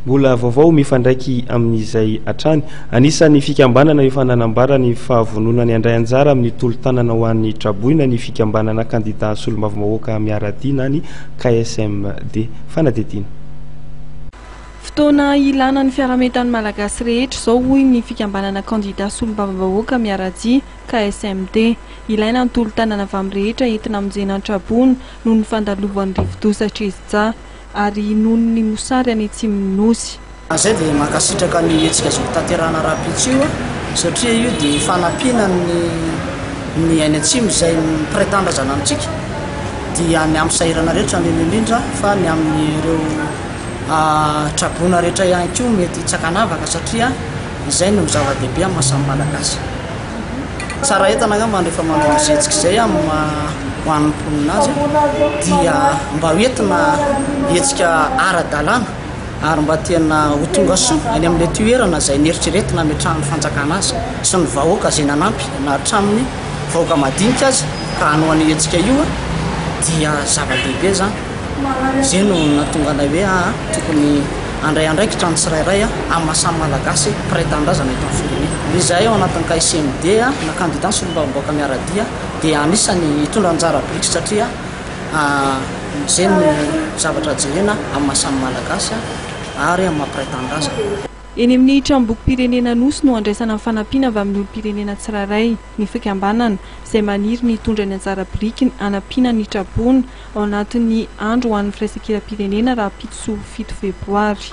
Mbola vaovao mifandraiky amin'izay hatrany. Anisan'ny fikambanana efa nanambara ny fahavononany handray anjara amin'ny tolo-tanana ho an'ny traboina ny fikambanana kandidà solombavambahoaka Miara-dia na ny KSMD. Fanadihadiana. Fotoana ilàna ny fiaraha-mientan'ny Malagasy rehetra izao hoy ny fikambanana kandidà solombavambahoaka Miara-dia, KSMD. Ilaina ny tolo-tanana avy amin'ny rehetra entina hamonjena ny traboina noho ny fandalovan'ny rivodoza Trizja. ary nono ny mosary any atsimon'ny Nosy. Raha izay dia mankasitraka ny hetsika azo hotanterahana rahampitso io satria io dia fanampiana ny ny any atsimo izay mpiray tanindrazana amintsika dia ny amin'ny sahirana rehetra indrindra indrindra fa ny amin'ireo traboina rehetra ihany koa mety hitsakanavaka satria izay no zava-dehibe amin'ny maha samy malagasy. Tsara entana angamba rehefa manao ny zezika izay amin'ny ho an'ny mponina azy dia mba ho entina hetsika ara-dalàna ary mba tena ho tonga soa any amin'ilay toerana izay neritreretina ametrahan'ny fanjakana azy sy ny vahoaka izay nanampy na hatramin'ny vahoaka madinika aza ka hanao an'io hetsika io dia zava-dehibe izany. Izay no nahatonga anay hoe aa tokony handray andraikitra ny tsirairay amin'ny maha samy Malagasy mpiray tanindrazana eto amin'ny firenena. Ny izahay ao anatin'ny KSMD na Kandida ny Solombavambahoaka Miara-dia dia anisan'ny hitondra anjara biriky satria izay no zavatra jerena amin'ny maha samy Malagasy ary amin'ny maha mpiray tanindrazana. Eny amin'ny Tranombokim-pirenena Anosy no handraisana ny fanampiana avy amin'ny olom-pirenena tsirairay ny fikambanana izay maniry ny hitondra ny anjara birikiny hanampiana ny tra-boina ao anatin'ny andro ho an'ny firaisankiram-pirenena rahampitso fito febroary.